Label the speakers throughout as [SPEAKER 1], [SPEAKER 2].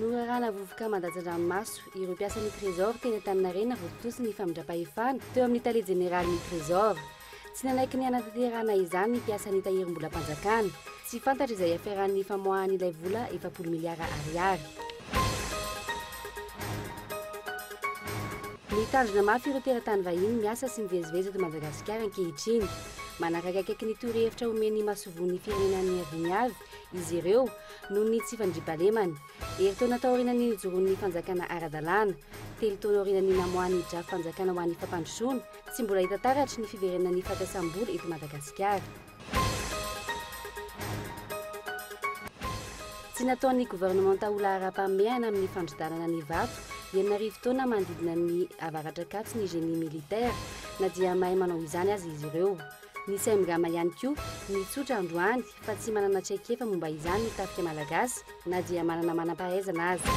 [SPEAKER 1] Norarana vovoka mandatsa-dranomaso ireo mpiasan'ny Trésor teny Antaninarenina vao tontosa ny famindram-pahefana teo amin'ny Tale Jeneralin'ny Trésor. Tsy nanaiky ny hanatanterahana izany ny mpiasan'ny Tahirimbolam-panjakana. Tsy fantatra izay ihafaran'ny famoahany ilay vola efapolo miliara ariary. Mitandrina mafy ireo teratany vahiny miasa sy mivezivezy eto Madagasikara ankehitriny. Manaraka akaiky ny torohevitra omen'ny masoivohon'ny firenena ny aviny avy izy ireo noho ny tsy fandriampahalemana. Herintaona taorianan'ny nijoroan'ny fanjakana ara-dalàna, telo taona aorianan'ny namoahan'ny Drafim-panjakana ho an'ny fampandrosoana, Tsy mbola hita taratry ny fiverenana ny fahatasam-bola eto Madagasikara. Tsy nataon'ny governemanta ho laharam-pahamehana amin'ny fandrodanana ny vato enina arivo taona manodidina ny avaratr'Ankatso ny génie militaire, na dia mahay manao izany aza izy ireo. Nisy haimgama ihany koa nitsotra androany. fa tsy manana traikefa momba izany ny tafika malagasy na dia manana manam-pahaizana aza.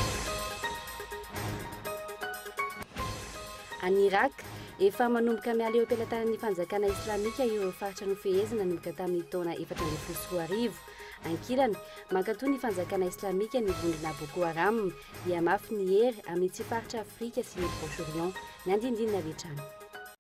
[SPEAKER 1] Any Irak, efa manomboka miala eo am-pelatanan'ny fanjakana islamika ireo faritra nofehezina nanomboka tamin'ny taona efatra ambin'ny folo sy roa arivo. Ankilany, mankatoa ny fanjakana islamika ny vondrona Boko Haram, hihamafy ny hery amin'ny tsy faritra Afrika sy ny Proche-Orient. Ny andinindininy avy hatrany.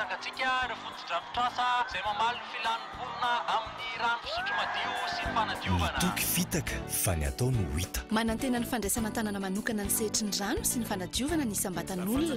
[SPEAKER 2] Tsangantsika ireo fotodrafitrasa izay mamaly ny filan'ny mponina amin'ny rano fisotro madio sy ny fanadiovana. Ny toky fitaka fa ny atao no hita. Manantena ny fandraisana
[SPEAKER 3] an-tanana manokana ny sehatry ny rano sy ny fanadiovana ny isam-batan'olona.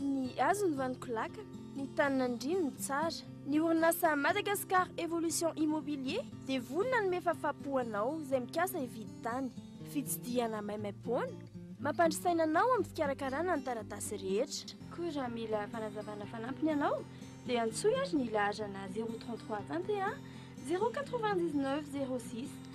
[SPEAKER 4] Ny hazo ny vaniko lakana, ny tany nandriany ny tsara. Ny orinasa Madagascar Evolution Immobilier dia vonona hanome fafapo anao izay mikasa hividy tany. Fitsidihana maimaimpoana, mampandry saina anao amin'ny fikarakarana ny taratasy rehetra. Koa raha mila
[SPEAKER 5] fanazavana fanampiny ianao dia antsoy ary ny laharana 033 21 099 06.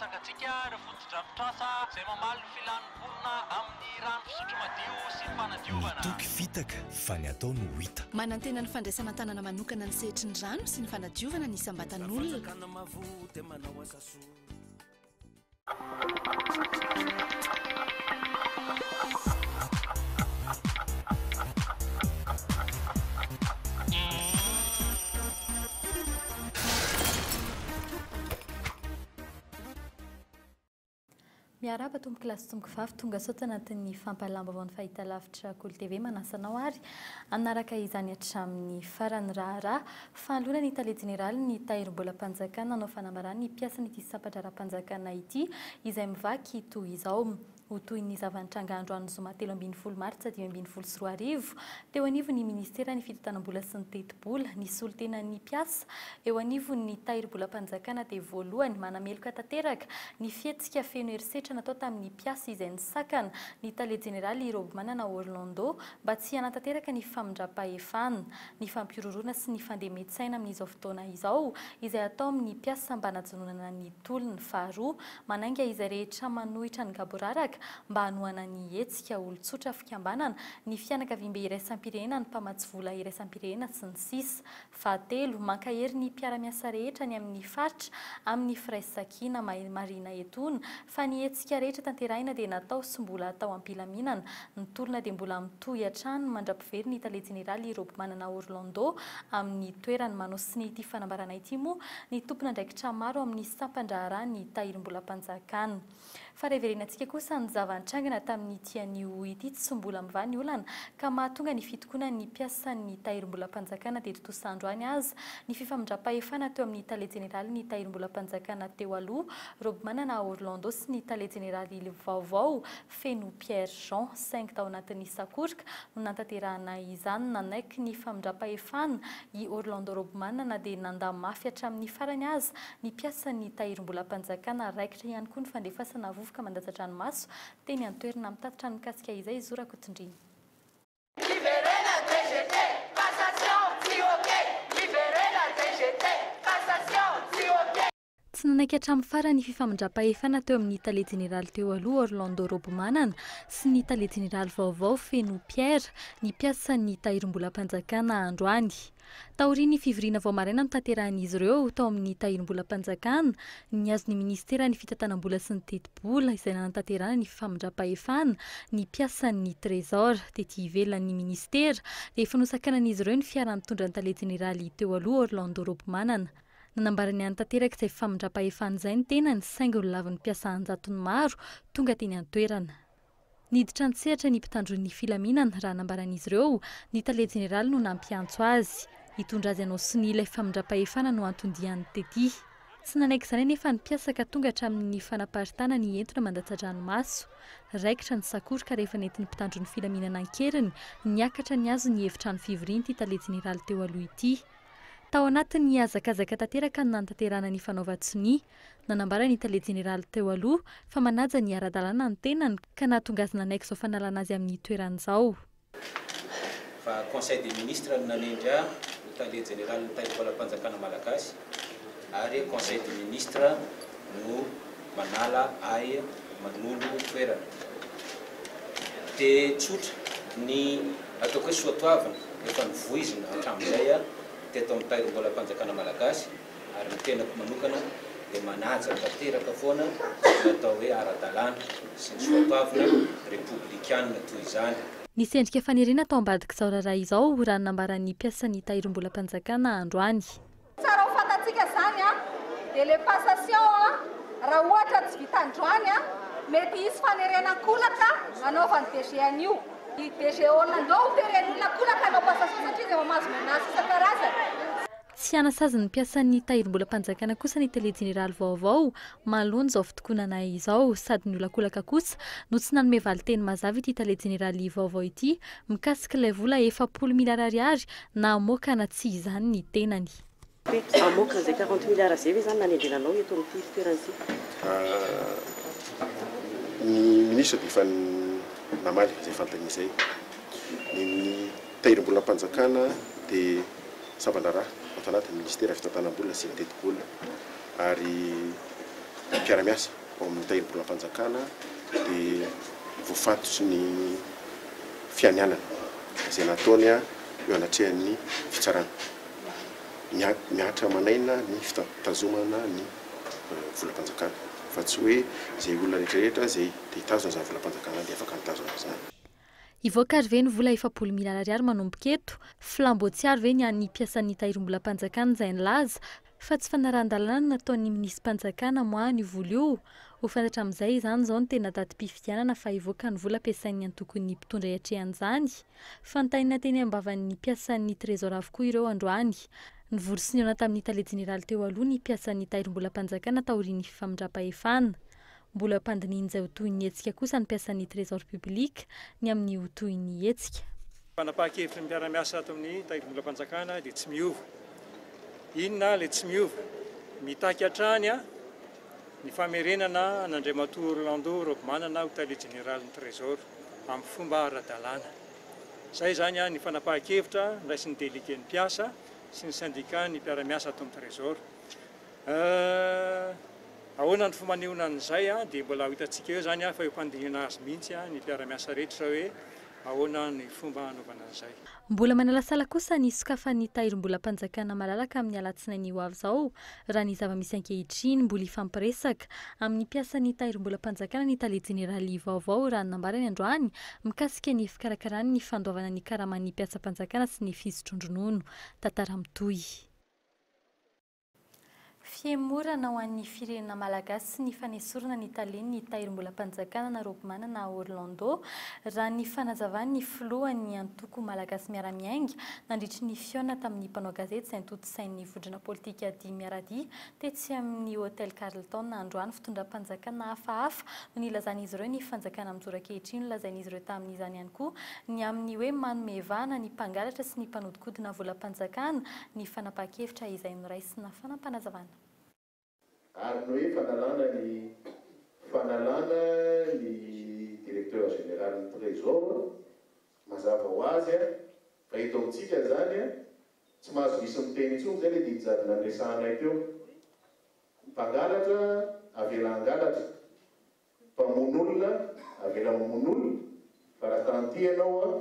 [SPEAKER 6] Tsangantsika ireo fotodrafitrasa izay mamaly ny filan'ny mponina amin'ny rano fisotro madio sy ny fanadiovana. Ny toky fitaka
[SPEAKER 2] fa ny atao no hita. Manantena ny fandraisana
[SPEAKER 7] an-tanana manokana ny sehatry ny rano sy ny fanadiovana ny isam-batan'olona.
[SPEAKER 8] Miarahaba tompoko lahy sy tompoko vavy tonga sao tanatin'ny fampahalalam-baovaon'ny fahitalavitra Kolo TV manasa anao ary hanaraka izany hatramin'ny farany raharaha fanoloana ny tale jeneraly ny tahirimbolam-panjakana nanao fanambarana ny mpiasan'ity sampan-draharaham-panjakana ity izay mivaky toy izao Ho toy ny zava-nitranga androany zoma telo ambin'ny folo martsa dimy ambin'ny folo sy roa arivo, teo anivon'ny minisiteran'ny fitantanam-bola sy ny tetibola, ny solontenan'ny mpiasa eo anivon'ny tahirimbolam-panjakana dia voalohany manameloka tanteraka ny fihetsika feno herisetra natao tamin'ny mpiasa izay nisakana ny tale jeneraly Robomanana Orlando mba tsy hanatanteraka ny famindram-pahefana, ny fampihorohoroana sy ny fandemen-tsaina amin'izao fotoana izao izay atao amin'ny mpiasa mba hanajononana ny tolona. Faharoa, Manainga izay rehetra manohitra ny gaboraraka mba hanohana ny hetsika, olon-tsotra, fikambanana, ny fianakaviambe iraisam-pirenena, ny mpamatsy vola iraisam-pirenena, sy ny sisa Fahatelo, mankahery ny mpiara-miasa rehetra any amin'ny faritra amin'ny firaisakina. Marihina etoana fa ny hetsika rehetra tanterahina dia natao sy mbola atao am-pilaminana. Ny tolona dia mbola mitohy hatrany mandra-. Very ny tale jeneraly Robomanana Orlando amin'ny toerany. Manosony ity fanambarana ity moa ny tompon'andraikitra maro amin'ny sampan-draharaha ny Tahirimbolam-panjakana. Fa reverenantsika kosa ny zava-nitrangana tamin'ity anio ity tsy mbola mivaha ny olana ka mahatonga ny fitokonan'ny mpiasan'ny Tahirimbolam-panjakana teto Tosa androany aza ny fifamindram-pahefana teo amin'ny tale jeneralin'ny Tahirimbolam-panjakana teo aloha Robomanana Orlando sy ny tale jeneraly vaovao feno Pierre Jean, saingy tao anatin'ny sakoroka no nantanterahana izany. Nanaiky ny famindram-pahefana i Orlando Robman na dia nandà mafy hatramin'ny farany aza ny mpiasan'ny Tahirimbolam-panjakana. Raikitra ihany koa ny fandefasana vovoka mandatsa-dranomaso teny an-toerana. Mitatitra ny mikasika izay i Zo Rakotondriana. Miverena
[SPEAKER 9] cgt, cassation tsy ok! Miverena cgt, cassation tsy ok! Tsy
[SPEAKER 8] nanaiky hatramin'ny farany fifamindram-pahefana teo amin'ny tale jeneraly teo aloha Orlando Robomanana sy ny tale jeneraly vaovao Feno Pierre ny mpiasan'ny Tahirimbolam-panjakana androany. Taorian'ny fivoriana vao maraina notanterahin'izy ireo tao amin'ny Tahirimbolam-panjakana, nihazo ny minisiteran'ny Fitantanam-bola sy ny Tetibola izay nanatanterahana ny fifamindram-pahefana ny mpiasan'ny Trésor tety ivelan'ny minisitera rehefa nosakanan'izy ireo ny fiara nitondra ny tale jeneraly teo aloha Orlando Robomanana. Nanambara ny hany tanterak'izay famindram-pahefana izay ny tenany saingy nolavin'ny mpiasa an-jatony maro tonga teny an-toerana. Niditra an-tsehatra ny mpitandron'ny filaminana raha nambaran'izy ireo ny tale jeneraly no nampiantso azy hitondra azy hanao sonia ilay famindram-pahefana no anton-diany tety. Tsy nanaiky izany anefa ny mpiasa ka tonga hatramin'ny fanaparitana ny entona mandatsa-dranomaso. Raikitra ny sakoroka rehefa nentin'ny mpitandron'ny filaminana an-keriny niakatra nihazo ny efitrano fivorian'ity tale jeneraly teo aloha ity. Tao anatin'ny hazakazaka tanteraka ny nanatanterahana ny fanaovan-tsonia, nanambara ny tale jeneraly teo aloha fa manaja ny ara-dalàna ny tenany ka nahatonga azy nanaiky izao fanalana azy amin'ny toerany izao.
[SPEAKER 10] Fa Conseil des Ministres no nanendry ahy ho tale jeneralin'ny Taibolam-panjakana Malagasy ary Conseil des Ministres no. Manala ahy manolo toerana. Dia tsotra ny ataoko hoe soatoavina efa novoizina hatramin'izay aho teto amin'ny Tahirimbolam-panjakana Malagasy ary ny tenako manokana dia manaja tanteraka foana ny atao hoe ara-dalàna sy ny soatoavina repoblikana toy izany. Nisy endrika faniriana
[SPEAKER 8] tao ambadik'izao raharaha izao raha ny nambaran'ny mpiasan'ny Tahirimbolam-panjakana androany. Tsara ho
[SPEAKER 9] fantatsika zany a! Dia le passation a! Raha ohatra tsy vita androany a! Mety hisy fanerena an-kolaka anaovan'ny DG an'io. I DG All andao ho feren'ny olona an-kolaka hanao passation satria izay mamazo menaces isan-karazany. Tsy
[SPEAKER 8] hanasazy ny mpiasan'ny Tahirimbolam-panjakana kosa ny Tele Jeneraly vaovao manoloan'izao fitokonana izao sady niolakolaka kosa no tsy nanome valinteny mazava ity Tale Jeneraly vaovao ity mikasika ilay vola efapolo miliara ariary na hamoaka na tsia izany ny tenany. Hoe hamoaka
[SPEAKER 11] an'izay quarante milliards izay ve izany nanendrena anao eto amin'ity toerana ity?
[SPEAKER 12] Ny ministra dia efa namaly izay fanontaniana izay. Ny ny tahirim-bolam-panjakana dia samban-draharaha ao tanatin'ny ministera fitantanam-bola sy ny tetibola ary mpiara-miasa. ao amin'ny tahirim-bolan'ny fanjakana dia voafatotry ny fianianana izay nataony eo anatrehan'ny fitsarana. Mihatra aman'aina ny fitazomana ny volam-panjakana fa tsy hoe izay olona rehetra rehetra izay te hitazona izany volam-panjakana izany dia afaka mitazona izany. Hivoaka ary
[SPEAKER 8] ve ny vola efapolo miliara ariary manomboka eto? Flambeau tsy ary ve ny an'ny mpiasan'ny Tahirimbolam-panjakana izay nilaza fa tsy fanarahan-dalàna ny nataon'ny minisy-panjakana moa an'io vola io? Ho fantatra amin'izay izany izao ny tena datim-pifidianana fa hivoaka ny vola ampiasain'ny antokon'ny mpitondra hiatrehan'izany. Fantaina teny am-bavan'ny mpiasan'ny Trésor avokoa ireo androany. Nivory sy nihaona tamin'ny Tale jeneraly teo aloha ny mpiasan'ny Tahirimbolam-panjakana taorian'ny fifamindram-pahefana. Mbola ampandinihin'izay ho tohin'ny hetsika kosa ny mpiasan'ny Trésor Public ny amin'ny ho tohin'ny hetsika. Fanapahan-kevitry
[SPEAKER 1] ny mpiara-miasa ato amin'ny Tahirimbolam-panjakana dia tsy miova. Inona ilay tsy miova? Mitaky hatrany ny famerenana an'Andriamatoa Orlando Raobimanana ho Tale Jeneralin'ny Trésor amin'ny fomba ara-dalàna. Izay izany ny fanapahan-kevitra niraisin'ny Délégué ny mpiasa sy ny Syndicat ny mpiara-miasa ato amin'ny Trésor. Ahh! Ahoana ny fomba anehoana an'izay an? Dia mbola ho hitantsika eo izany an, fa eo am-pandinihana azy mihitsy an, ny mpiara-miasa rehetra hoe ahoana ny fomba hanaovana an'izay. Mbola manalasala
[SPEAKER 8] kosa ny hisokafan'ny tahirim-bolam-panjakana malalaka amin'ny alatsinainy ho avy izao, raha ny zava-misy ankehitriny, mbola hifampiresaka amin'ny mpiasan'ny tahirim-bolam-panjakana ny tale jeneraly vaovao, raha ny nambarany androany mikasika ny fikarakarany ny fandoavana ny karaman'ny mpiasam-panjakana sy ny fisotroan-dronono. Tantara mitohy. Fihemorana ho an'ny firenena malagasy sy ny fanesorana ny talen'ny Tahirimbolam-panjakana na Robimanana Orlando, raha ny fanazavan'ny filohan'ny antoko Malagasy Miara-Miainga, nandritry ny fihaonana tamin'ny mpanao gazety izay notontosain'ny vondrona politika Dimy Miara-Dia tetsy amin'ny Hotel Carlton androany. Fitondram-panjakana hafahafa no nilazan'izy ireo ny fanjakana mijoro ankehitriny. Nolazain'izy ireo tamin'izany ihany koa ny amin'ny hoe manome vahana ny mpangalatra sy ny mpanodikodina volam-panjakana ny fanapahan-kevitra izay noraisina fanapanazavana.
[SPEAKER 13] Ary no efa nalana ny fanalana ny Directeur Général ny Trésor, mazava ho azy fa eto amintsika izany tsy mahazo diso miteny intsony izay ilay didijadona niresahanay teo. Ny mpangalatra avela hangalatra, Mpamono olona avela mamono olona fa raha tanty ianao an,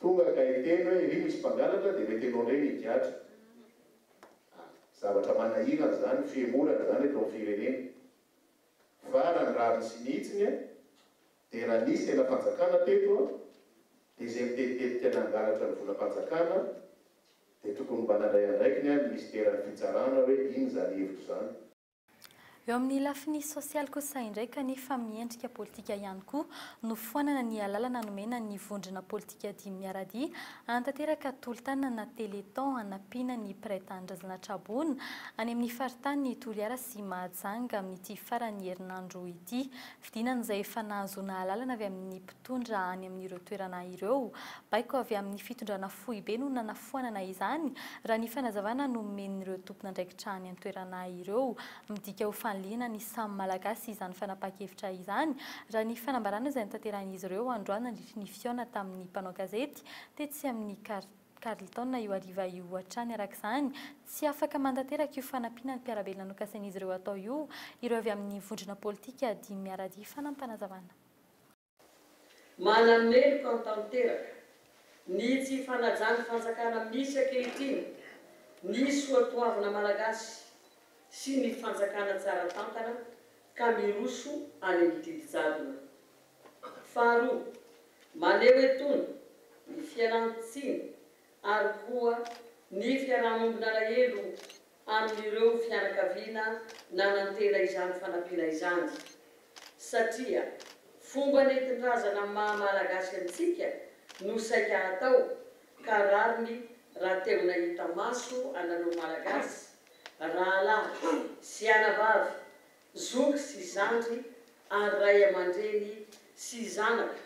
[SPEAKER 13] tonga ka hiteny hoe ery misy mpangalatra dia mety ianao indray no higadra. Ah, zavatra manahirana izany, fihemorana izany eto amin'ny firenena. Fa raha ny rariny sy ny hitsiny an, dia raha nisy senam-panjakana teto an, dia izay mitebitebika nangalatra ny volam-panjakana dia tokony mba nandray andraikiny an ny minisiteran'ny fitsarana hoe inona izany hevitra izany. Eo
[SPEAKER 8] amin'ny lafiny sosialy kosa indray kanefa amin'ny endrika politika ihany koa, nofoanana ny alalana nomena ny vondrona politika dimy miara-dia hanatanteraka tolo-tanana na téléthon hanampiana ny mpiray tanindrazana tra-boina any amin'ny faritanin'i Toliara sy Mahajanga amin'ity faran'ny herinandro ity. Fidinana izay efa nahazoana alalana avy amin'ny tondra any amin'ireo toerana ireo. Baiko avy amin'ny fitondrana foibe no nanafoanana izany, raha ny fanazavana nomen'ireo tompon'andraikitra any an-toerana ireo. Midika ho fanilihana ny samy Malagasy izany fanapahan-kevitra izany, raha ny fanambarana izay notanterahin'izy ireo androany nandritry ny fihaona tamin'ny mpanao gazety tetsy amin'ny Carlton io hariva io hatrany. Araka izany, tsy afaka mantanteraka io fanampiana ny mpiara-belona nokasain'izy ireo hatao io ireo avy amin'ny vondrona politika dimy miaradia fanampanazavanaa.
[SPEAKER 3] Manameloka ahy tanteraka ny tsy fanajan'ny fanjakana misy ankehitriny ny soatoavina malagasy sy ny fanjakana tsara tantana ka miroso any amin'ny didy jadona. Faharoa, maneho etony ny fialan-tsiny ary koa ny fiaraha-mombon'alahelo amin'ireo fianakaviana nanantena izany fanampiana izany, satria fomba nentin-drazana amin'ny maha Malagasy antsika no saika hatao, ka rariny raha te-ho-nahita maso anareo Malagasy, rahalahy sy anabavy, zoky sy zandry ary ray aman-dreny sy zanaka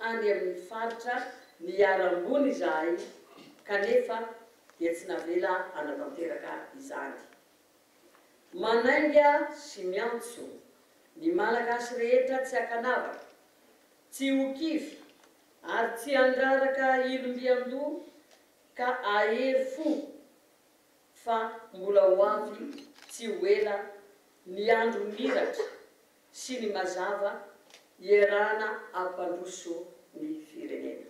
[SPEAKER 3] any amin'ny faritra niharam-boina izahay, kanefa dia tsy navela hanatanteraka izany. Manainga sy miantso ny Malagasy rehetra tsy hakanavaka, tsy ho kivy ary tsy handraraka ilom-biandoha ka ahery fo fa mbola ho avy tsy ho ela ny andro miratra sy ny mazava ierahana hampandroso ny firenena.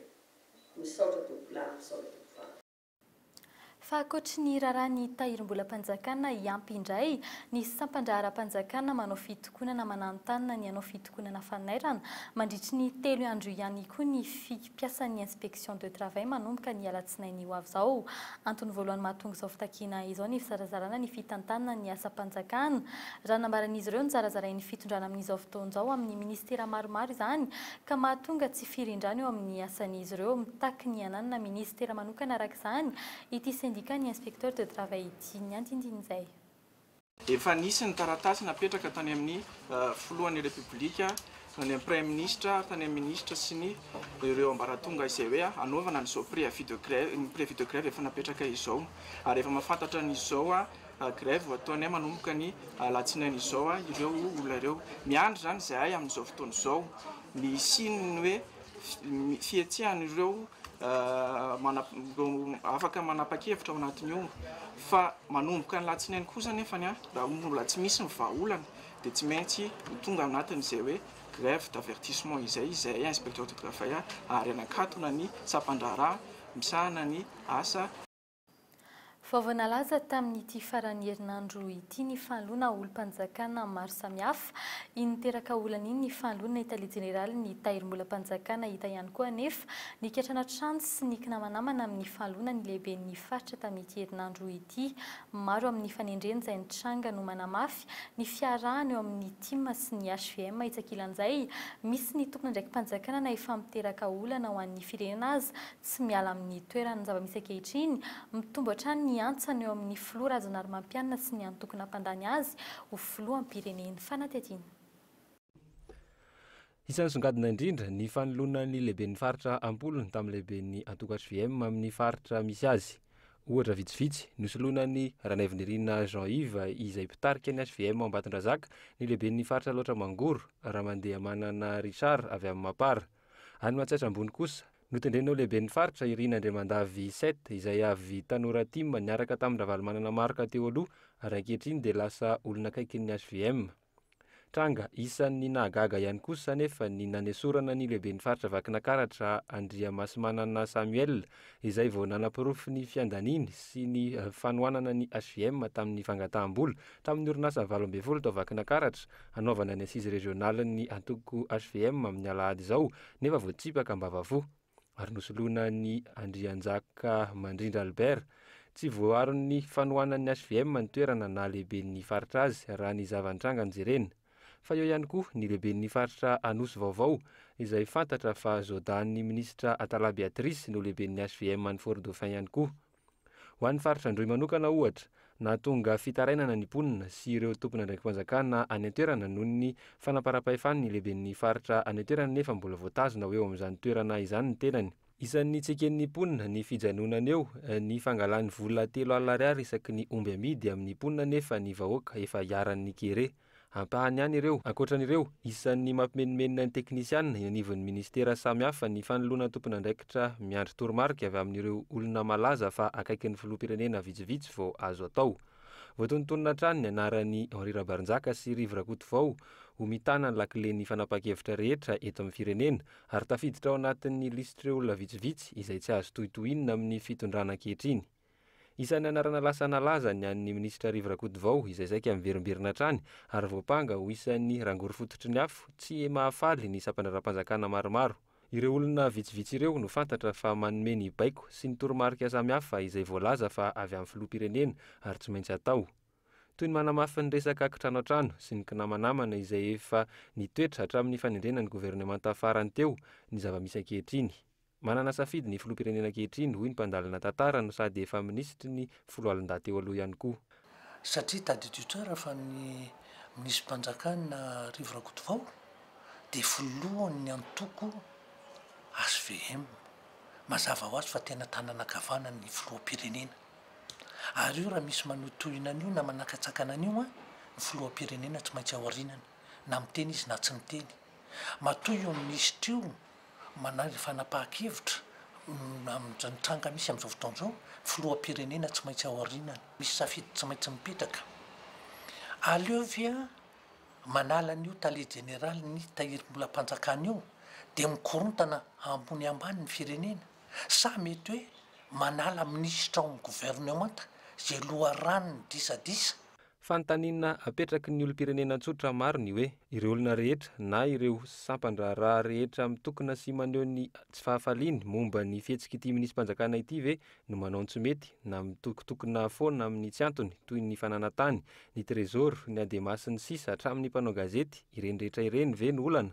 [SPEAKER 3] Misaotra tompoko lahy, misaotra tompoko vavy.
[SPEAKER 8] Fa ankoatry ny raharaha ny Tahirimbolam-panjakana hiampy indray ny sampan-draharam-panjakana manao fitokonana mananontanona ny hanao fitokonana fanairana mandritry ny telo andro ihany koa ny mpiasan'ny inspection de travail manomboka ny alatsinainy ho avy izao. Antony voalohany mahatonga izao fitakiana izao ny fizarazarana ny fitantanana ny asam-panjakana raha nambaran'izy ireo nozarazarain'ny fitondrana amin'izao fotoana izao amin'ny ministera maromaro izany ka mahatonga tsy firindrana eo amin'ny asan'izy ireo, mitaky ny hananana minisitera manokana araka izany ity sendika ny Inspecteur de travail ity. Ny andindin'izay. Efa
[SPEAKER 14] nisy ny taratasy napetraka tany amin'ny filohan'ny Repoblika, tany amin'ny Praiminisitra, tany amin'ny minisitra sy ny ireo ambaratonga izay hoe hanaovana an'izao préavis de grève, ny préavis de grève efa napetraka izao ary efa mahafantatra an'izao Grève ho ataony ahy manomboka ny alatsinainy izao ireo olona ireo. Miandry izany izahay amin'izao fotoana izao ny hisian'ny hoe fihetsihan'ireo afaka manapa-kevitra ao anatin'ny omby fa manomboka ny alatsinainy kosa anefa ny ahy raha mbola tsy misy ny vahaolana dia tsy maintsy ho tonga anatin'izay hoe grève d'avertissement izay izahay inspecteur de travail ary hanakatona ny sampan-draharaha misahana ny asa
[SPEAKER 8] Vaovao nalaza tamin'ity faran'ny herinandro ity ny fahaloana olom-panjakana maro samihafa. Iny niteraka olana iny ny fahaloana ny tale jeneralin'ny Tahirimbolam-panjakana hita ihany koa anefa ny katrana trano sy ny kinamanamana amin'ny fahaloana ny lehiben'ny faritra tamin'ity herinandro ity. Maro amin'ny fanendreny izay nitranga no manamafy ny fiarahana eo amin'ny tim sy ny hvm hitsakilan'izay misy ny tompon'andraiki-panjakana na efa miteraka olana ho an'ny firenena aza Tsy miala amin'ny toerany ny zava-misy ankehitriny, mitombo hatrany ny antsany eo amin'ny filoha Rajaonarimampianina sy ny antoko nampandany azy ho filoham-pireneny. Fanadihadiana.
[SPEAKER 15] Isan'ny songadina indrindra ny fanoloana ny lehiben'ny faritra am-polony tamin'ny lehiben'ny antoko hvm amin'ny faritra misy azy. Ohatra vitsivitsy, nosoloina an'i Ranaivonirina Jean Yves izay mpitarika ny hvm ao Ambatondrazaka ny lehiben'ny faritra Alaotra Mangoro, Ramandehamanana Richard avy amin'ny Mapar. Any Matsiatra Ambony kosa, Notendren'ireo lehiben'ny faritra, Irina Andriamandavy Sept, izay avy tanora tim, niaraka tamin-dRavalomanana Marc teo aloha ary ankehitriny dia lasa olona akaikin'ny hvm. Tranga isan'ny nahagaga ihany kosa anefa ny nanesorana ny lehiben'ny faritra Vakinakaratra, Andriamasimanana Samuel, izay vao nanaporofo ny fiandaniany sy ny fanohanana ny hvm tamin'ny fangataham-bola tamin'ny orinasa valo ambin'ny folo tao Vakinakaratra hanaovana ny assise régionale-n'ny antoko hvm amin'ny alahady izao nefa voatsipaka am-bavafo ary nosoloina an'i Andrianjaka Mandrindra Albert. Tsy voaaron'ny fanohanan'ny hvm ny toerana na lehiben'ny faritra azy, raha ny zava-nitranga no jerena. Fa eo ihany koa ny lehiben'ny faritra Anosy vaovao, izay fantatra fa zodan'ny minisitra Atala Beatrice no lehiben'ny hvm any Fort-Dauphin ihany koa. Ho an'ny faritra Androy manokana, ohatra, nahatonga fitarainana ny mponina sy ireo tompon'andraiki-panjakana any an-toerana noho ny fanamparam-pahefan'ny lehiben'ny faritra any an-toerana nefa mbola voatazona ho eo amin'izany toerana izany ny tenany. Isan'ny tsy eken'ny mponina ny fijanonana eo ny fangalany vola telo alina ariary isaky ny omby amidy amin'ny mponina nefa ny vahoaka efa iharan'ny kere. Ampahany ihany ireo. Ankoatra an'ireo, isan'ny mampimenomenona ny teknisiana eny anivon'ny minisitera samihafa ny fanoloana tompon'andraikitra miandry toromarika avy amin'ireo olona malaza fa akaikin'ny filoham-pirenena vitsivitsy vao azo atao. Voatonontonona hatrany ny anaran'i Henri Rabarinjaka sy Rivo Rakotovao ho mitana ny lakilen'ny fanapahan-kevitra rehetra eto amin'ny firenena ary tafiditra ao anatin'ny lisitr'ireo olona vitsivitsy izay tsy azo tohitohinina amin'ny fitondrana ankehitriny. Isan'ny anarana lasa nalaza ny an'ny minisitra Rivo Rakotovao izay saika miverimberina hatrany ary voampanga ho isan'ny rangory fototry ny afo tsy mahafaly ny sampandraharaham-panjakana maromaro. Ireo olona vitsivitsy ireo no fantatra fa manome ny baiko sy ny toromarika samihafa izay voalaza fa avy amin'ny filoham-pirenena ary tsy maintsy atao. Toy ny manamafy ny resaka kitrano an-trano sy ny kinamanamana izay efa nitoetra hatramin'ny fanendrena ny governemanta farany teo ny zava-misy ankehitriny. Manana safidy ny filoham-pirenena ankehitriny, hoy ny mpandalina tantara no sady efa minisitry ny foloalindahy teo aloha ihany koa. Satria tadidio
[SPEAKER 16] tsara fa ny minisipanjakana Rivo Rakotovao dia filohan'ny antoko HVM. Mazava ho azy fa tena tanana ankavanan'ny filoham-pirenena. Ary io raha misy manohitohina an'io na manakatsakana an'io ny filoham-pirenena tsy maintsy aorinany na miteny izy na tsy miteny. Matoa io minisitra io Manaja fanapahan-kevitra amin'izany tranga misy amin'izao fotoana izao ny filoham-pirenena tsy maintsy aorianany. Misy safidy tsy maintsy mipetraka. Aleo ve manala an'io tale jeneralin'ny Tahirimbolam-panjakana io dia mikorontana ambony ambany ny firenena sa mety hoe manala minisitra ao amin'ny governemanta izay loharanon'ny disadisa? Fanontaniana
[SPEAKER 15] apetraky ny olom-pirenena tsotra maro ny hoe, ireo olona rehetra na ireo sampan-draharaha rehetra mitokona sy maneho ny tsy fahafaliany momba ny fihetsik'ity minisi-panjakana ity ve no manao ny tsy mety na mitokotokona foana amin'ny tsy antony toy ny fananantany, ny trésor, ny adema sy ny sisa hatramin'ny mpanao gazety, ireny rehetra ireny ve no olana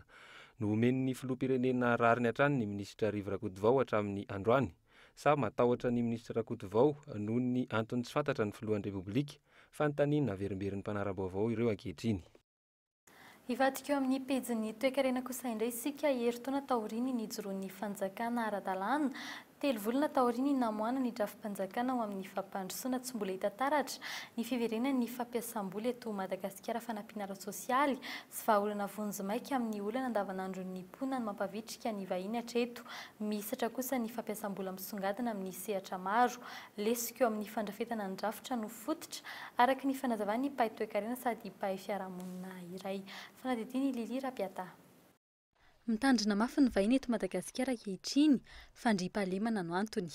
[SPEAKER 15] no omen'ny filoham-pirenena rariny hatrany ny minisitra Rivo Rakotovao hatramin'ny androany? sa matahotra ny Minisitra Rakotovao noho ny antony tsy fantatra ny Filohan'ny Repoblika? Fanontaniana averimberin'ny mpanara-baovao ireo ankehitriny.
[SPEAKER 8] Hivadika eo amin'ny pejin'ny toekarena kosa indray isika, herintaona taorian'ny nijoroan'ny fanjakana ara-dalàna, telo volana taorian'ny namoahana ny drafi-panjakana ho amin'ny fampandrosoana tsy mbola hita taratra ny fiverenan'ny fampiasam-bola eto Madagasikara fanampiana ara-tsosialy, Tsy vahaolana vonjimaika amin'ny olana andavanandron'ny mponina ny mampavitrika ny vahiny hatreto. Mihisatra kosa ny fampiasam-bola misongadina amin'ny sehatra maro. Lesoka eo amin'ny fandrafetana ny drafitra no fototra, araka ny fanazavan'ny mpahay toekarena sady mpahay fiarahamonina iray. Fanadihadian'i Lily Rapiataha. Mitandrina mafy ny vahiny eto Madagasikara ankehitriny. Fandriampahalemana no antony.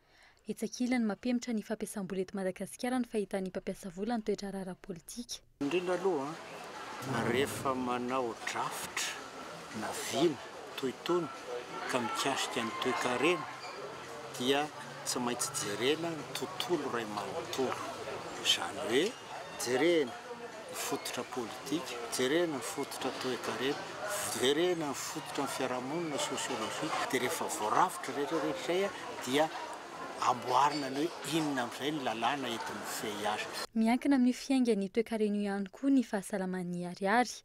[SPEAKER 17] Etsy
[SPEAKER 8] ankilany, mampihemotra ny fampiasam-bola eto Madagasikara ny fahitan'ny mpampiasa vola ny toe-draharaha ara-politika. Indrindra
[SPEAKER 18] aloha, rehefa manao drafitra na vina toy itony ka mikasika ny toekarena dia tsy maintsy jerena ny tontolo iray manontolo. Izany hoe, jerena. ny fototra politika, jerena ny fototra toekarena, jerena ny fototra ny fiarahamonina, sociologie, dia rehefa voarafitra rehetra rehetra izay dia amboarina ny hoe inona amin'izay ny lalàna eto amin'ny VIH. Miankina amin'io fiaingan'ny
[SPEAKER 8] toekarena io ihany koa ny fahasalaman'ny Ariary.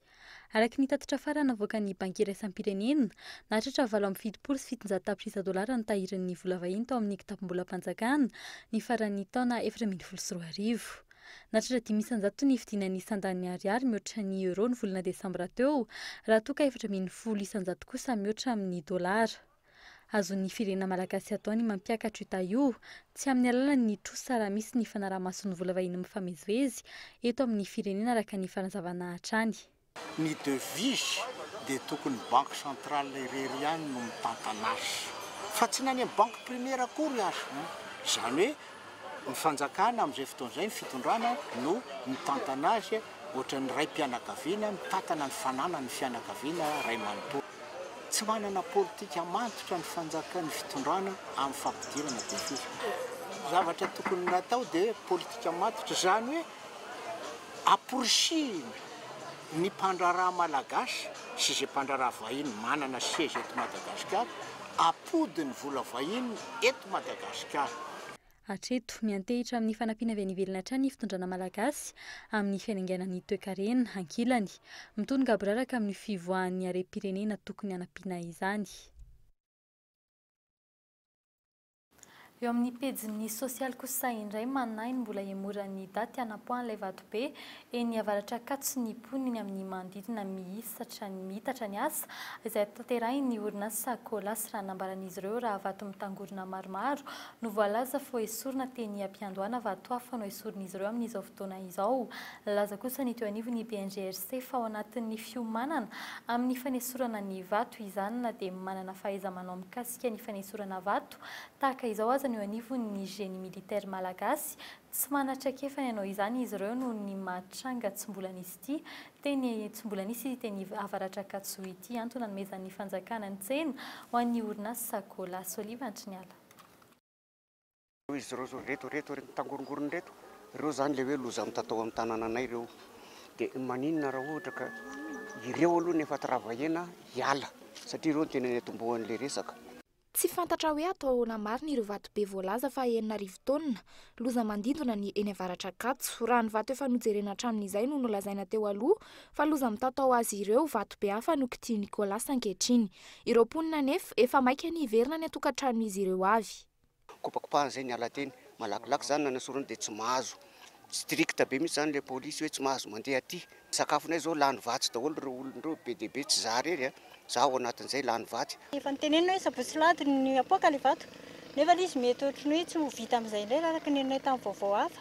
[SPEAKER 8] Araka ny tatitra farany navoakan'ny Banky Iraisam-pirenena, nahatratra valo amby fitopolo sy fitonjato tapitrisa dolara ny tahirin'ny vola vahiny tao amin'ny kitapom-bolam-panjakana ny faran'ny taona efatra ambin'ny folo sy roa arivo. Nahatratra dimy isan-jato ny fidinan'ny sandan'ny Ariary mihoatra ny Euro ny volana desambra teo, raha toa ka efatra ambin'ny folo isan-jato kosa mihoatra amin'ny dolara. Azon'ny firenena malagasy atao ny mampiakatra io taha io, tsy amin'ny alalan'ny trosa raha misy ny fanaraha-mason'ny vola vahiny mifamezivezy eto amin'ny firenena araka ny fanazavana hatrany. Ny
[SPEAKER 18] devise dia tokony banque centrale irery ihany no mitantana azy fa tsy ny any amin'ny banque primaire akory aza. Izany hoe ny fanjakana amin'izay fotoana izay, ny fitondrana no mitantana azy ohatran'ny raim-pianakaviana mitantana ny fananan'ny fianakaviana iray manontolo. Tsy manana politika mantotra ny fanjaka, ny fitondrana amin'ny fampidirana devise. Zavatra tokony natao dia politika mantotra izany hoe Amporisihina ny mpandraharaha malagasy sy izay mpandraharaha vahiny manana seza eto Madagasikara hampody ny vola vahiny eto Madagasikara. Hatreto,
[SPEAKER 8] miantehitra amin'ny fanampiana avy any ivelany hatrany ny fitondrana malagasy amin'ny fiainanganan'ny toekarena. Ankilany, mitono gaboraraka amin'io fivoahan'ny harem-pirenena tokony hanampiana izany. Eo amin'ny pejin'ny sosialy kosa indray manahy ny mbola hihemoran'ny daty hanapoahan'ilay vatobe eny Avaratr'Ankatso ny mponin'ny amin'ny manodidina mihisatra miitatra ny asa izay tanterahin'ny orinasa Colas raha nambaran'izy ireo raha vato mitangorona maromaro no voalaza fo esorina teny ampiandohana vato hafa no esorin'izy ireo amin'izao fotoana izao. Nilaza kosa ny teo anivon'ny BNGRC fa ao anatin'ny fiomanana amin'ny fanesorana ny vato izany na dia manana fahaiza-manao mikasika mikasika ny fanesorana vato tahaka izao aza no eo anivon'ny génie militaire malagasy. Tsy manana traikefa ny hanao izany izy ireo noho ny maha tranga tsy mbola nisy ity teny tsy mbola nisy ity teny Avaratr'Ankatso ity. Antony nanomezan'ny fanjakana ny tsena ho an'ny orinasa Gola. Soliva Antriniala.
[SPEAKER 19] Izy ireo zao reto reto reto mitangorongorona reto ireo zany le hoe loza mitatao amin'ny tanananay ireo de maninona raha ohatra ka ireo aloha ny efa travahena hiala satria ireo ny tena ny atombohan'le resaka Tsy fantatra
[SPEAKER 20] hoe atao ahoana marina ireo vato be voalaza fa enina arivo taonina loza mandindona ny eny Avaratr'Ankatso. Raha ny vato efa nojerena hatramin'izay no nolazaina teo aloha fa loza mitatao azy ireo, vato be hafa no kitihin'i Nicolas ankehitriny. Ireo mponina anefa efa maika ny hiverina any an-tokantranon'izy ireo avy. Kopakopahana izay
[SPEAKER 19] niala teny. Malakilaky izany nanasorana dia tsy mahazo. Strict be mihitsy izany ilay polisy hoe tsy mahazo mandeha aty. Ny sakafonay izao lany vatsy daholo ireo olona ireo, be dia be, tsy izaho irery an, izaho ao anatin'izay lany vatsy. Efa notenenina hoe sabotsy
[SPEAKER 4] sy alahady no hapoaka ilay vato nefa ilay izy mety ohatran'ny hoe tsy ho vita amin'izay indray araka ny henonay tamin'ny vaovao hafa.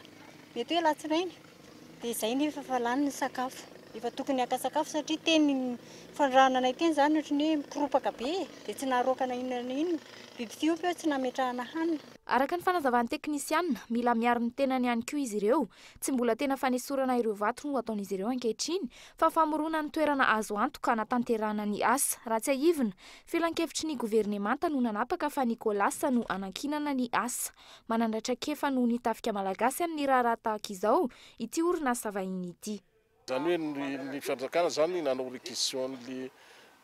[SPEAKER 4] Mety hoe alatsinainy. Dia izay nefa fa lany ny sakafo. Efa tokony haka sakafo satria teny fandrarana anay teny izany ohatran'ny hoe mikoropaka be e. Dia tsy naharoaka na inona na inona. Biby tsy ompa eo tsy nametrahana hanina. Araka ny fanazavan'ny
[SPEAKER 20] teknisianina, mila miaro ny tenany ihany koa izy ireo. Tsy mbola tena fanesorana ireo vato no ataon'izy ireo ankehitriny fa famorona ny toerana azo antoka hanatanterahana ny asa. Raha tsiahivina, filankevitry ny governemanta no nanapaka fa ny Colas no hanankinana ny asa. Manana traikefa noho ny tafika malagasy amin'ny raharaha tahaka izao ity orinasa vahiny ity. Izany hoe ny
[SPEAKER 5] ny fanjakana izany nanao requisition an'le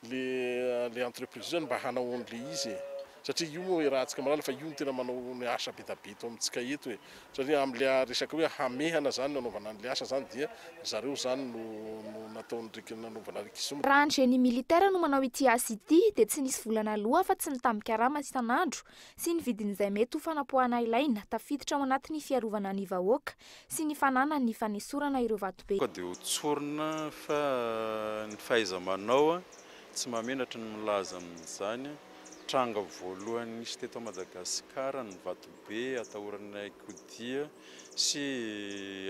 [SPEAKER 5] le le entreprise io zany mba hanao an'le izy e. Satria io moa iarahantsika malala fa io no tena manao ny asa be da be eto amintsika eto e. Satria am'le resaka hoe hamehana zany no anaovana an'le asa zany dia ry zareo zany no no nataon'ny rek- nanaovana requisition. Raha ny génie militaire
[SPEAKER 20] no manao ity asa ity dia tsy nisy vola naloa afa-tsy ny tambin-karama isan'andro sy ny vidin'izay mety ho fanapoahana ilaina tafiditra ao anatin'ny fiarovana ny vahoaka sy ny fananany fanesorana ireo vatobe. Ka dia ho tsorina
[SPEAKER 21] fa ny fahaiza-manao tsy mahamenatra no milaza amin'izany. Tranga voalohany nisy teto Madagasikara ny vatobe atahoran'ny hain-kodia sy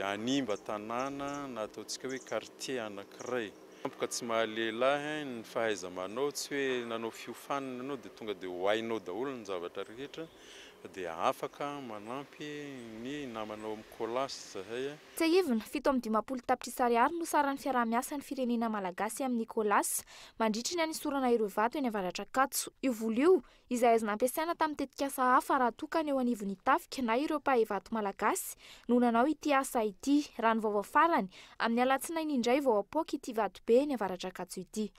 [SPEAKER 21] hanimba tanàna na ataontsika hoe quartier anankiray. Tampoka tsy mahalehilahy hein ny fahaizamanao tsy hoe nanao fiofanana ianao dia tonga dia ho hainao daholo ny zavatra rehetra dia afaka manampy ny namanao amin'ny colas zahay a. Tsiahivina, fito
[SPEAKER 20] amby dimampolo tapitrisa ariary no saran'ny fiaraha-miasan'ny firenena malagasy amin'ny colas mandritry ny hanisorana ireo vato eny Avaratr'Ankatso. Io vola io izay azo nampiasaina tamin'ny tetikasa hafa raha toa ka ny eo anivon'ny tafika na ireo mpahay vato malagasy no nanao ity asa ity, raha ny vaovao farany, amin'ny alatsinainy indray vao hapoaka ity vatobe eny Avaradrakatso ity.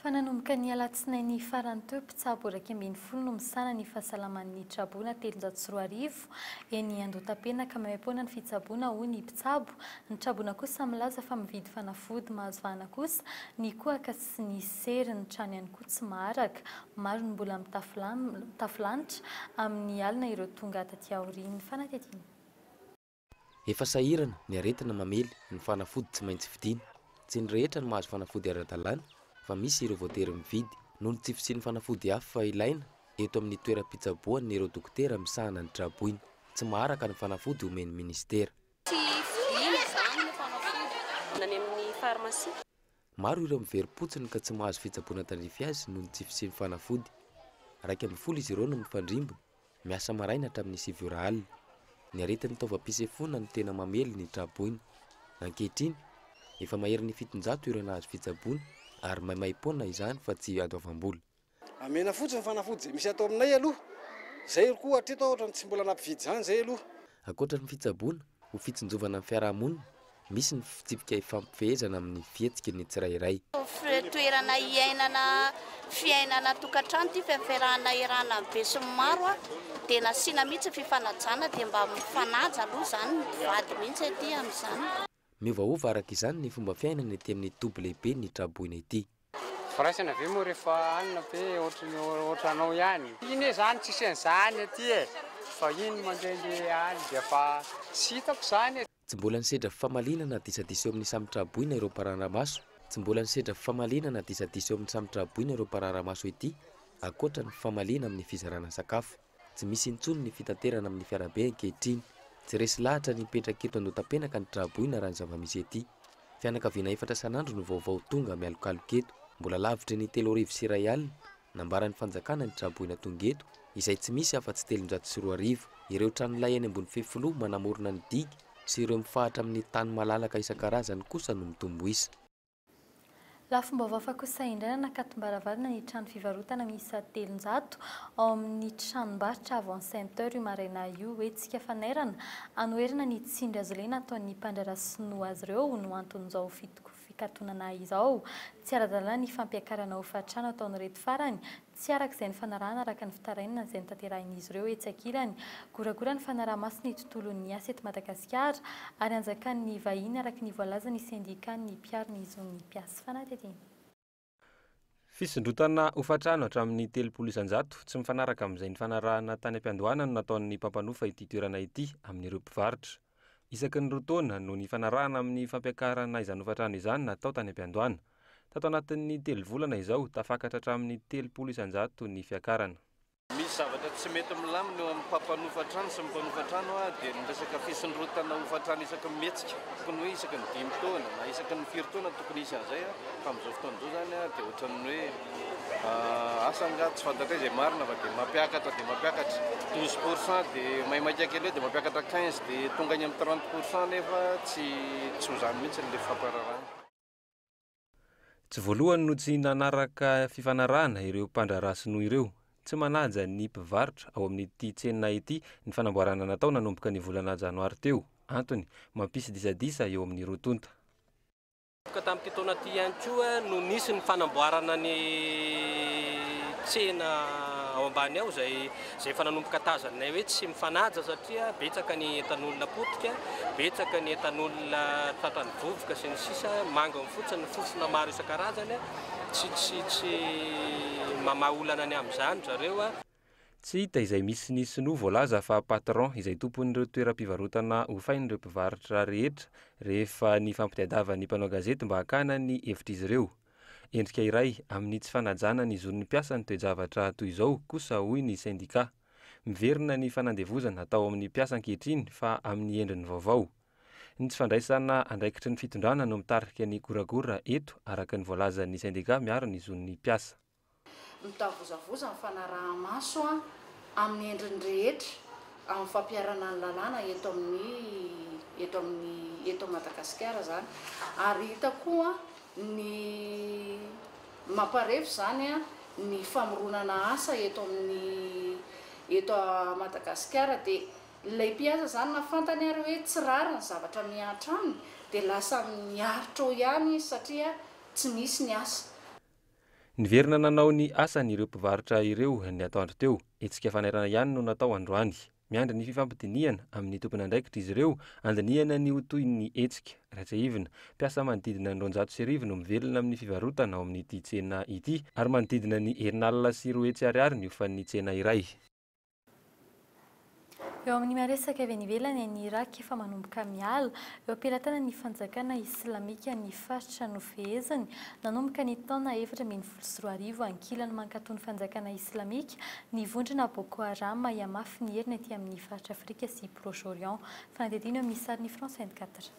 [SPEAKER 20] Fa
[SPEAKER 8] nanomboka ny alatsinainy farany teo, mpitsabo iraika ambin'ny folo no misahana ny fahasalaman'ny traboina telonjato sy roa arivo eny Andohatapenaka, maimaim-poana ny fitsaboana hoy ny mpitsabo, ny traboina kosa milaza fa mividy fanafody mahazo vahana kosa ny kohaka sy tsy nisy sery, ny trano ihany koa tsy maharaka. Maro ny mbola mitafy mitafy lanitra amin'ny alina ireo tonga taty aorian'ny fanatitiana.
[SPEAKER 2] Efa sahirana ny aretina mamely ny fanafody tsy maintsy vidiana. Tsy ny rehetra no mahazo fanafody ara-dalàna fa misy ireo voatery mividy noho ny tsy fisian'ny fanafody hafa ilaina eto amin'ny toeram-pitsaboan'ireo dokotera misahana ny tra-boina. Tsy maharaka ny fanafody omen'ny minisitera. Tsy vidiana izany ny fanafody na ny amin'ny farmasia. Maro ireo miverim-potsiny ka tsy mahazo fitsaboana tandrify azy noho ny tsy fisian'ny fanafody. Iraika ambin'ny folo izy ireo no mifandrimby, miasa maraina hatramin'ny sivy ora alina. Ny aretin'ny taovam-pisefoana no tena mamely ny tra-boina. Ankehitriny, efa maherin'ny fitonjato ireo nahazo fitsaboana ary maimaim-poana izany fa tsy adoavam-bola. Amena fotsiny
[SPEAKER 22] ny fanafody izay misy ato aminay aloha. Izay koa hatreto aho ohatran'ny tsy mbola nampividy izany izay aloha. Ankoatra ny fitsaboana
[SPEAKER 2] ho fitsinjovana ny fiarahamonina, misy ny fitsipika ifampifehezana amin'ny fihetsiky ny tsirairay. Toerana
[SPEAKER 23] hiainana fiainana an-tokantrano ity fiaferahana erana ny besinimaro dia nasiana mihitsy ny fifanajana dia mba mifanaja aloha izany ny mpivady mihitsy aty amin'izany. Miovaova araka
[SPEAKER 2] izany ny fomba fiainana ety amin'ny toby lehibe ny tra-boina ety. Firaisana ve
[SPEAKER 24] moa rehefa any na ve ohatran'ny ohatranao ihany? Iny e zany tsisy an'izany aty e, vahiny mandehandeha any dia fa tsy hitako izany e. Tsy mbola nisedra
[SPEAKER 2] fifamaliana na disadisa eo amin'ny samy tra-boina ireo mparara-maso Tsy mbola nisedra fifamaliana na disadisa eo amin'ny samy tra-boina ireo mparara-maso ety, ankoatra ny fifamaliana amin'ny fizarana sakafo. Tsy misy intsony ny fitaterana amin'ny fiarabe ankehitriny. Tsy resy lahatra ny mipetraka eto Andohatapenaka ny tra-boina raha ny zava-misy ety. Fianakaviana efatra isan'andro no vaovao tonga mialokaloka eto. Mbola lavitry ny telo arivo sy iray alina nambaran'ny fanjakana ny tra-boina tonga eto, izay tsy misy afa-tsy telonjato sy roa arivo. Ireo tranolay eny ambony fefiloha manamorona ny digy sy ireo mifahatra amin'ny tany malalaka isan-karazany kosa no mitombo isa.
[SPEAKER 8] Lafim-baovao hafa kosa indray nanakatombaravarana ny trano fivarotana miisa telonjato ao amin'ny tranombarotra Avant Center io maraina io hetsika fanairana hanoherana ny tsindry hazolena ataon'ny mpandraharaha sinoa azy ireo no anton'izao fikatonana izao. Tsy ara-dalàna ny fampiakarana hofatrano ataon'ireto farany Tsy araka izay nifanarahana araka ny fitarainana izay notanterahin'izy ireo etsy ankilany. Goragora ny fanaraha-maso ny tontolon'ny asa eto Madagasikara ary anjakan'ny vahiny araka ny voalazan'ny sendikan'ny mpiaro ny zon'ny mpias. Fanadihadiana. Fisondrotana
[SPEAKER 15] hofantrano hatramin'ny telopolo isan-jato tsy mifanaraka amin'izay nifanarahana tany am-piandohana no nataon'ny mpampanofa ity toerana ity amin'ireo mpivarotra. Isaky ny roa taona no nifanarahana amin'ny fampiakarana izany hofantrano izany natao tany am-piandohana. Tato anatin'ny telo volana izao, tafakatra hatramin'ny telopolo isan-jato ny fiakarana. Misy zavatra
[SPEAKER 7] tsy mety milamina eo amin'ny mpampanofa trano sy ny mpanofa trano dia ny resaka fisondrotana hofantrano isaky ny mihetsika. Tokony hoe isaky ny dimy taona na isaky ny firy taona tokony hisy an'izay fa amin'izao fotoana izao izany dia ohatran'ny hoe. Asa angaha tsy fantatray izay marina fa dia mampiakatra dia mampiakatra 12 pour cent dia maimaika kely eo dia mampiakatra 15 dia tonga any amin'ny 30 pour cent nefa tsy tsy ho izany mihitsy ilay fampararahana.
[SPEAKER 15] Tsy voalohany no tsy nanaraka fifanarahana ireo mpandraharaha sinoa ireo. Tsy manaja ny mpivarotra ao amin'ity tsena ity ny fanamboarana natao nanomboka ny volana janoary teo. Antony, mampisy disadisa eo amin'ny roa tonta. Ka
[SPEAKER 25] tamin'ity taona ity ihany koa no nisy ny fanamboarana ny tsena ao ambany ao izay izay efa nanomboka tazaninay hoe tsy mifanaja satria betsaka ny entan'olona potika, betsaka ny entan'olona tratran'ny vovoka sy ny sisa, manga ny fotsiny ny fofona maro isan-karazany, tsy tsy tsy mamaha olana ny amin'izany ry zareo. Tsy hita
[SPEAKER 15] izay misy ny sinoa voalaza fa patron izay tompon'ireo toeram-pivarotana hofain'ireo mpivarotra rehetra rehefa nifampitadiavan'ny mpanao gazety mba hakana ny hevitr'izy ireo. Endrika iray amin'ny tsy fanajana ny zon'ny mpiasa ny toe-javatra toy izao kosa hoy ny sendika. Miverina ny fanandevozana atao amin'ny mpiasa ankehitriny fa amin'ny endriny vaovao. Ny tsy fandraisana andraikitry ny fitondrana no mitarika ny goragora eto araka ny voalazan'ny sendika miaro ny zon'ny mpiasa. Mitavozavoza
[SPEAKER 26] ny fanaraha-maso amin'ny endriny rehetra amin'ny fampiharana ny lalàna eto amin'ny eto amin'ny eto Madagasikara izany ary hita koa ny mamparefo izany ny famoronana asa eto amin'ny eto Madagasikara dia ilay mpiasa izany na fantany ary hoe tsy rariny ny zavatra mihatra aminy dia lasa miaritra ao ihany izy satria tsy misy ny asa. Niverina
[SPEAKER 15] nanao ny asany ireo mpivarotra ireo ny atoandro teo. Hetsika fanairana ihany no natao androany. Miandry ny fifampidinihana amin'ny tompon'andraikitra izy ireo handinihana ny ho toy ny hetsika. Raha tsiahivina, mpiasa manodidina ny roanjato sy arivo no mivelona amin'ny fivarotana ao amin'ity tsena ity ary manodidina ny herin'alina sy roa hetsy ariary ny hofan'ny tsena iray.
[SPEAKER 8] Eo amin'ny maresaka avy any ivelany, any Irak efa manomboka miala eo am-pelatanan'ny fanjakana islamika ny faritra nofeheziny nanomboka ny taona efatra ambin'ny folo sy roa arivo ankilany mankatoa ny fanjakana islamika ny vondrona Boko Haram hihamafy ny heriny aty amin'ny faritra Afrika sy Proche-Orient. Fanadihadiana eo amin'ny sarin'i France 24.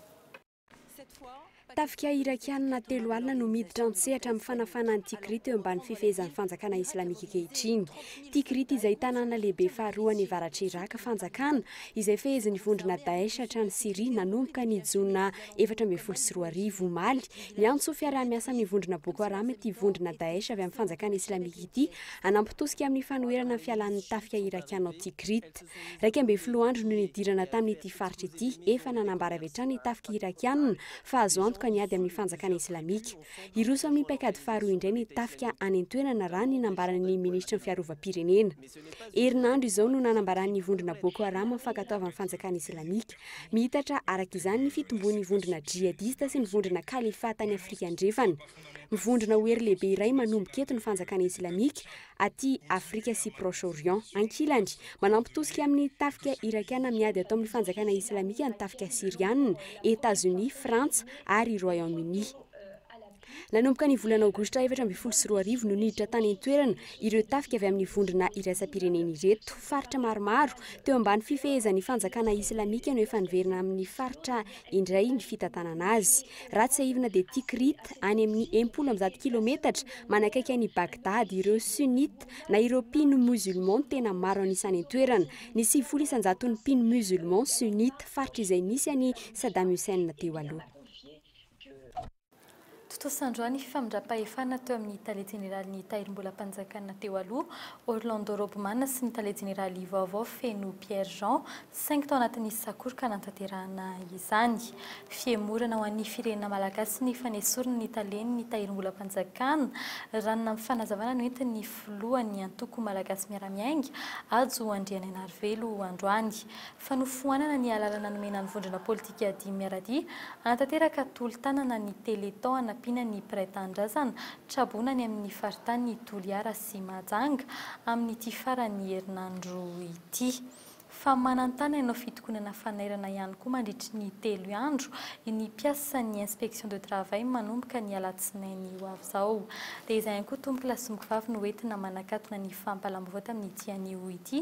[SPEAKER 11] Tafika Irakiana telo alina no miditra an-tsehatra amin'ny fanafahana an'i Tikrit eo ambany fifehezan'ny Fanjakana Islamika ankehitriny. Tikrit izay tanàna lehibe faharoa any avaratr'i Iràka, fanjakana izay fehezin'ny vondrona Daesh hatrany Syria nanomboka ny Jona efatra ambin'ny folo sy roa arivo. Omaly, niantso fiaraha-miasa amin'ny vondrona Boko Haram ity vondrona Daesh avy amin'ny Fanjakana Islamika ity hanampy tosika amin'ny fanoherana ny fialan'ny tafika Irakiana ao Tikrit. Iraika ambin'ny folo andro no nidirana tamin'ity faritra ity, efa nanambara avy hatrany ny tafika Irakiana fa azo antoka ny ady amin'ny fanjakana Islamika. Hiroso amin'ny paikady faharoa indray ny tafika any an-toerana raha ny nambaran'ny minisitry ny fiarovam-pirenena. Herinandro izao no nanambaran'ny vondrona Boko Haram mifankatoavan'ny fanjakana Islamika. Miitatra araka izany ny fitomboan'ny vondrona djihadista sy ny vondrona Khalifa tany Afrika Andrefana. Mivondrona ho hery lehibe iray manomboka eto ny fanjakana islamika aty Afrika sy Proche Orient. Ankilany, manampy tosika amin'ny tafika irakiana miady atao amin'ny fanjakana islamika ny tafika syriana, Etazonia, Frantsa ary Royaume-Uni. Nanomboka ny volana aogositra efatra ambin'ny folo sy roa arivo no niditra tany an-toerana ireo tafika avy amin'ny vondrona iraisam-pirenena ireto. Faritra maromaro teo ambany fifehezan'ny fanjakana islamika no efa niverina amin'ny faritra indray ny fitantanana azy. Raha tsiahivina dia Tikrit, any amin'ny enimpolo amby zato kilometatra manakaiky an'i Bagdad, ireo Sunnite na ireo mpino musulman tena maro an'isa any an-toerana. Ny sivifolo isan-jaton'ny mpino musulman Sunnite, faritra izay nisy an'i Saddam Hussein teo aloha.
[SPEAKER 8] Tontosa androany ny famindram-pahefana teo amin'ny Tale Jeneralin'ny Tahirimbolam-panjakana teo aloha, Orlando Robman sy ny Tale Jeneraly vaovao Feno Pierre Jean, saingy tao anatin'ny sakoroka nanatanterahana izany. Fihemorana ho an'ny firenena malagasy ny fanesorana ny Talen'ny Tahirimbolam-panjakana, raha ny nampifanazavana noentin'ny Filohan'ny Antoko Malagasy Miara-miainga, Hajo Andrianainarivelo androany. Fanofoanana ny alalana nomena ny vondrona politika. Brigadier Miaradia, hanatanteraka tolo-tanana ny Téléthon hanampiana ny mpiray tanindrazana traboina any amin'ny faritanin'i Toliara sy Mahajanga amin'ity faran'ny herinandro ity. Fa manan-tany hanao fitokonana fanairana ihany koa mandritry ny telo andro ny mpiasan'ny Inspection de Travail manomboka ny alatsinainy ho avy izao. Dia izay ihany koa Tompo lahy sy Mokovavy no entina manakatona ny fampahalam-baovao tamin'ity anio ity